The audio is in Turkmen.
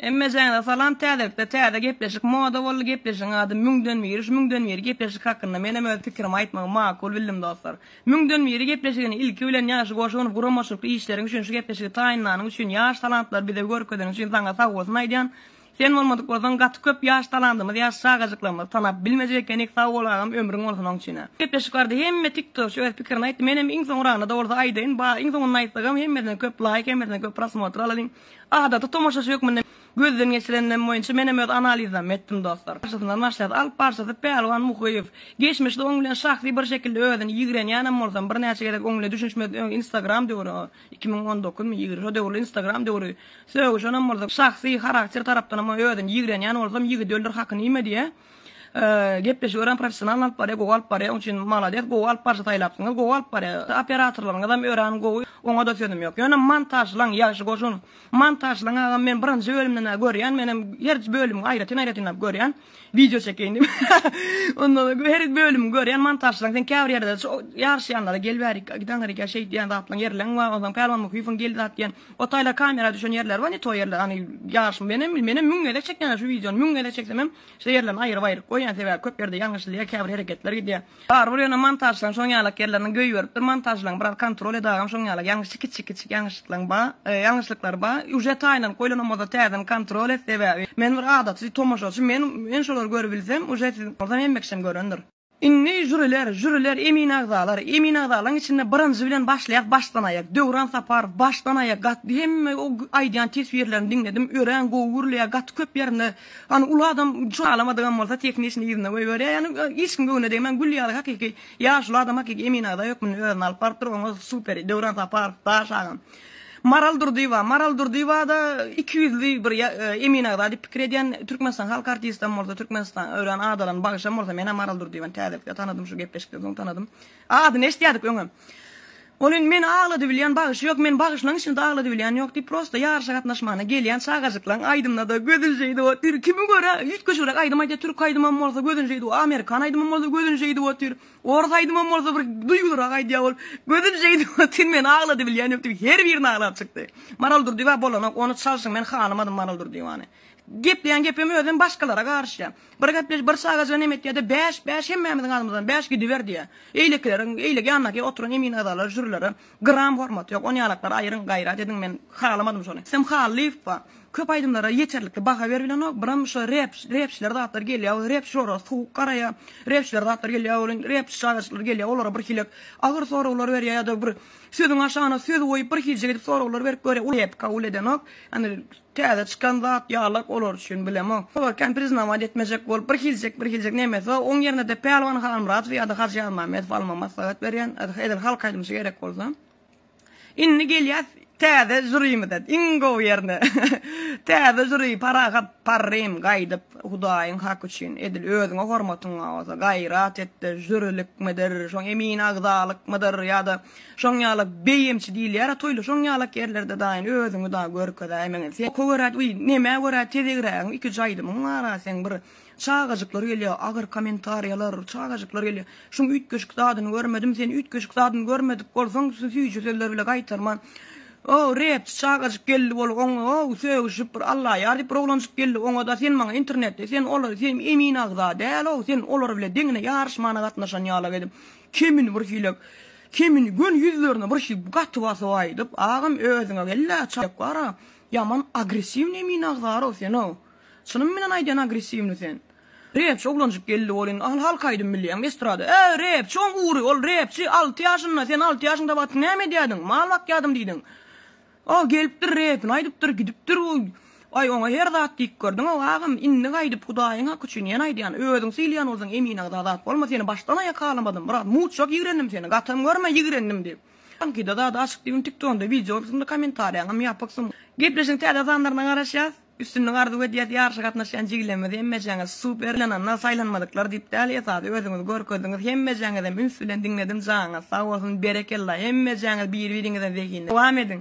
Hemmejaňyza salam täzelikde täze gepleşik moda boldy gepleşigiň ady müňden biri şu müňden biri gepleşik hakynda menem öz pikirimi aýtmagy makul bildim dostlar müňden biri gepleşigini ilki bilen ýagşy goşunow guramaçylykly işleriň üçin şu gepleşigi taýynlanyň üçin ýaş talantlary bize görkezeniň üçin saňa sagbolsun aýdýan Sen bolmadyk bolsaň gaty köp ýaş talandymyz ýaş çagajyklarymyzy tanap bilmejek ekenik sag bol agam ömrüň bolsun oň üçinem. Gepleşik bardy hemme tiktokçy öz pikirini aýtdy menem iň soňragynada bolsa aýdaýyn ba iň soňunda aýtsagam hemmesine köp laýk hemmesine köp prosmotr alalyň adaty tomaşaçy hökmünde gözden geçirenimem boýunça menem öz analizammy etdim dostlar barşasyndan başlaýas alp barşasy Pälwan Muhyýew geçmişde oň bilen şahsy bir şekilde özüni ýigrenýänem bolsam birnäçe gezek oň ile düşünişmezden öň instagram döwri Iki müň on dokuz my ýyl, şo döwürler instagram döwri, sögüşenem bolsak, şahsy harakter tarapdanam o özüni ýigrenýän bolsam, ýigidi öldür haky nime diýä, gepleşigi örän professional alyp barýa, gowy alyp barýa, onuň üçin malades, gowy alyp barşy saýlapsyňyz, gowy alyp barýa, operatorlaryňyzam örän gowy, oňa da sözüm ýok. Ýöne montažlaň, ýagşy goşun, montažlaň agam men birinji bölümden-ä görýän, menem her bölümi aýratyn-aýratynlap görýän. Wideo çekeýin diýip. Ondan soň her bölümi görýän montažçylaň sen käbir ýerde şu ýaryşýanlara gel bäri gidaň hereke şeýt diýen zatlaň ýerleň bar. Ondan Pälwan Muhyýewiň gel zat diýen. O taýlar kamera düşen ýerler bar ne to ýerler hany ýaryşym men hem men hem müň gezek çekýän şu wideony müň gezek çeksem hem şu ýerlerini aýryp aýryp goýýan sebäbi köp ýerde ýalňyşylýar käbir hereketler gidýär. Barybir ýöne montažçylaň şoň ýalak ýerleriniň göý beripdir montažlaň biraz kontrol edagam şoň ýalak ýaňyşy kiçi kiçi ýaňyşyklaň ba ýaňyşlyklar ba uje taýynlanyp goýlana bolsa täzeden kontrol et sebäbi men bir adaty tomaşaçy men men şolary görübilsem uje siziň bolsa hemme kişem görendir. Indi žuriler žuriler emin agzalar emin agzalaň içinde birinji bilen başlaýak başdan aýak Döwran Saparow başdan aýak gatdy hemme o aýdýan teswirlerini diňledim örän gowy gürleýär gaty köp ýerinde Hany uly adam şuny alamadygam bolsa tekniçni yzyna goýberýär ýani hiç kim göwnüne degmän gül ýaly hakyky ýaşuly adam hakyky emin agza hökmünde özüni alyp barypdyr oňa super Döwran Saparow daş agam Maral Durdyýewa Maral Durdyýewada iki ýüzli bir emin agza diýip pikir edýän Türkmenistan halk artistam bolsa Türkmenistan örän adalan bagşam bolsa menä Maral Durdyýewany täzelikde tanadym şu gepleşikden soň tanadym Adyny eşidýärdik öňem. Ol indi meni agladybilýän bagşy ýok, men bagşylaň içinde agladybilýän ýok diýip, prosta ýaryşa gatnaşmana gelýän çagajyklaň aýdymyna-da gözün şeýdip otyr. Kimi görä, üýtgeşigräk aýdym aýdýar, türk aýdymam bolsa gözün şeýdip otyr, amerikan aýdymam bolsa gözün şeýdip otyr, orus aýdymam bolsa bir duýgulyrak aýdýar ol, gözün şeýdip otyr, meni agladybilýän ýok diýip, her birini aglap çykdy. Maral Durdyýewa bolanok, ony çalşyň, men halamadym Maral Durdyýewany. Gepleýän gepem özem başgalara garyşýar. Bir gepleş, bir çagajyga nem etýär-de, Bäş, bäş, hemmämiziň adymyzdan bäş gidiber diýýär. Eýlekileriň, eýle ýandaky oturan emin agzalara, žürilere gram hormaty ýok. Onýalaklar aýryň, gaýrat ediň, men halamadym şony. Rüstem Hallyýewa, Köp aýdymlara ýeterlikli baha berbilenok, biram şo rep, repçiler zatlar gelýär welin, repçiler olara sowuk garaýar, repçiler zatlar gelýär welin, repçi çagajyklar gelýär, olara birhilek agyr soraglar berýär ýa-da bir sözüň aşagyna söz goýup, birhiljek edip soraglar berip görýär, uly rep kabul edenok. Ýagny, Täze çykan zat ýaly olar üçin bilemok. Olar kän priznawaýt etmejek bolup bir hiljek bir hiljek nemesi bar. Oň ýernede Pälwan Halmyradow ýada Hajy Ýazmämmedow alma maslahat berýän edil halk aýdymçy gerek bolsa. Indi gelýäs täze žurimize iň gowy ýerine. Täze žuri Parahat Parrym gaýdyp Hudaýyň haky üçin edil özüňe hormatyňa bolsa gaýrat etde žurilikmidir şoň emin agzalykmydyr ýada Şoň ýala beýemçi diýilýär-a toýly şoň ýalak ýerlerde daýyn özüňi dagy görkezäýmeňe sen oka görä uý nemä görä tezegrägiň iki jaýlymyň bara seň bir çagajyklar gelýä agyr komentarýalar çagajyklar gelýä şuň üýtgeşik zadyny görmedim sen üýtgeşik zadyny görmedik bolsaň süýji sözler bile gaýtarman ow repçi çagajyk geldi bol oň ow sögüşip bir Alla ýar diýip bir oglanjyk geldi oňada sen maňa internetde sen olar sen emin agza däl ow sen olar bile deňine ýaryşmana gatnaşan ýalak edip Kemini bir hile Kemini göni ýüzlerine bir hil gaty basyp aýdyp agam özüňe gellä çaýak bara ýaman agressiwni emin agzarow senow çynym bilen aýdýan agressiwni sen repçi oglanjyk geldi bol indi halk aýdym bilýäňmi estrada e repçi oň ury ol repçi alty ýaşynda sen alty ýaşyňda batyň näme edýädiň mal bakýadym diýdiň Ol gelipdir, repini aýdypdyr, gidipdir bu. Aý, oňa her zat diýip gördüň-ow, agam, indi gaýdyp Hudaýyň haky üçin ýene aýdýan, özüň sylaýan bolsaň emin agza zat bolma, seni başdan aýak halamadym, biraz mutjak ýigrendim seni, gatam görme, ýigrendim diýip. Taňkyda zady açyk diýibim, tik donda wideo bolupsyn-da, kommentariýaňam ýapyksyň. Gepleşigiň täze sanlaryna garaşýas. Üstünlik arzuw edýäs ýaryşa gatnaşýan jigilerimiz hemmejaňyz super ynananlar saýlanmadyklar diýip däl esasy özüňizi görkezdiňiz hemmejaňyzam üns bilen diňledim jaňyz sag bolsun berekella hemmejaňyz bir biriňizden zehinli dowam ediň.